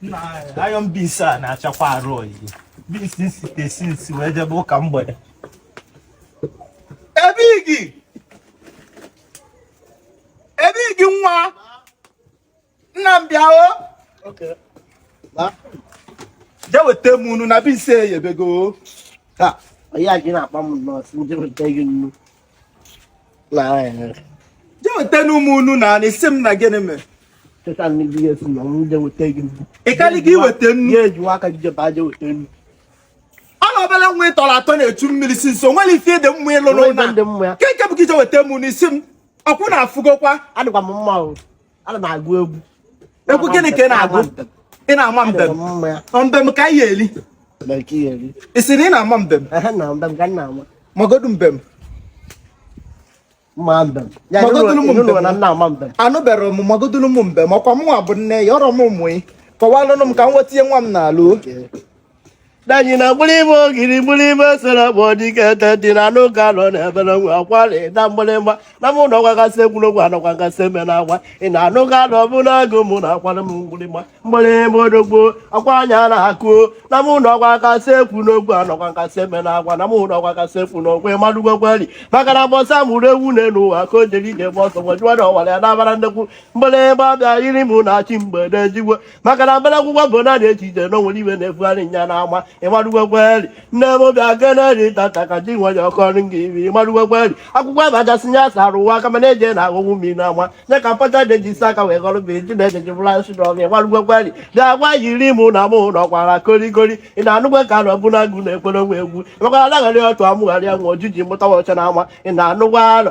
na iron beans a na-achakwa arụ oyi beans m site since wee jebe ụka mgbede ebe igi ebe igi nwa nna m bịa o je weta m nnu na beans eyebego ha ọ ya i ji na-akpọ m nnọọ sị m je weta gị nnu je wetanụ m nnu ị na-asị m na gịnị mere ị karịghị iweta nnu ọ na obere nwa ị tọrọ atọ na-echu mmiri sị m o nwere ife dị mma ị lụ n'ụlọ nke nke bụ ka i je weta m nnu ị sị m ọkwụ na-afụgokwa adịkwa m mma o ana m agụ egwu egwu gịnị ka ị na-agụ ị na-ama mbem mbem ka ị ga-eri ị sị na ị na-ama mbem magodu mbem anụberọ m magodulu m mbem ọkwa mụnwa bụ nne ya ọrọ m mụ ị kọwalụnụ m ka m nweta ihe nwa m na-alụ danyi na mgbịrịgba ogiri mgbịrịgba sere bụ dike ete dị na anụ ka nọ n'ebere nwe akwari na mgbịrịgba na mụ na ọgwagasị egwuregwu anọkwa ngasị eme na agwa ị na anụ ka nọ bụ n'agụ mụ na akwara m mgbịrịgba mgbịrịgba odogbo akwa anya na akụ na mụ na ọgwagasị ekwu n'ogwu anọkwa ngasị eme na agwa na mụ na ọgwagasị ekwu n'ogwu ịmadụgwekweri maka na ụbọsị a mụrụ ewu n'elu ụwa ka o jere ije gba ọsọ gwajụwa na ọwara ya na-abara nnekwu mgbịrịgba bịa yiri mụ na chi mgbede jigwe maka na mbara akwụkwọ bụ na dị echiche na onwere iwe na-efugharị nya n'ama ịmarụgwekweri nne m bịa generi tata ka ji nwe ya ọkọrị gị ibi ịmarụgwekweri akwụkwọ abachasị ya sara ụwa aka mana eje na aghọgbu mmiri n'ama nye ka mpacha dị eji isi aka wee gọrọ bụ eji na-eje ji bụla nsị n'ọgụ ịmarụgwekweri dị agwa yiri mụ na mụ na ọkwara korikori ị na-anụgwe ka na ọbụla agụ na-ekwere nwa egwu ịmakwara anaghara ọtụ amụgharị ya nwa ojii mụta nwa ọcha na ama ị na-anụgwa alọ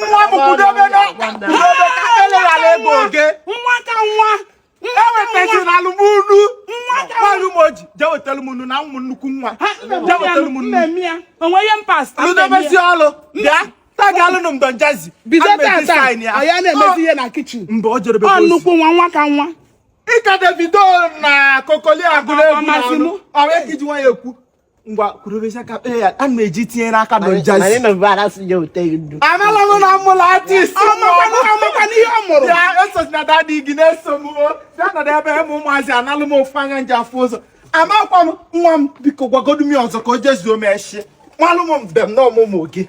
nwa m kwudobe n'ụlọ ka eleghara ego oge nwa ka nwa ewetazi na alụ m nnu nwaanyị ụmụ oji je wetara m nnu na ụmụ nnukwu nwa je wetara m nnu onweghị mpasta lụdobezi ọlụ bịa taga alụnụ mgbe njazi bido tata anyị na-emezi ihe na kitchen mgbe o jerebe ọ nnukwu nwa nwa ka nwa ị ka davido na kokoli agụrụ egwu na ọrụ ọrụ ekiji nwa ya ekwu ngwa kwurubezie ka kpee ya ana m eji tinye n'aka na njazi anala m na m mụlụ artist ya esozi na daddy gị na-eso m o na-anọdụ ebe m ụmụazị analụ m ofu anya m ji afụ ụzọ amakwa m nwa m biko gwagodu m ya ọzọ ka o jezuo m eshi malụ m mbem na ọmụmụ gị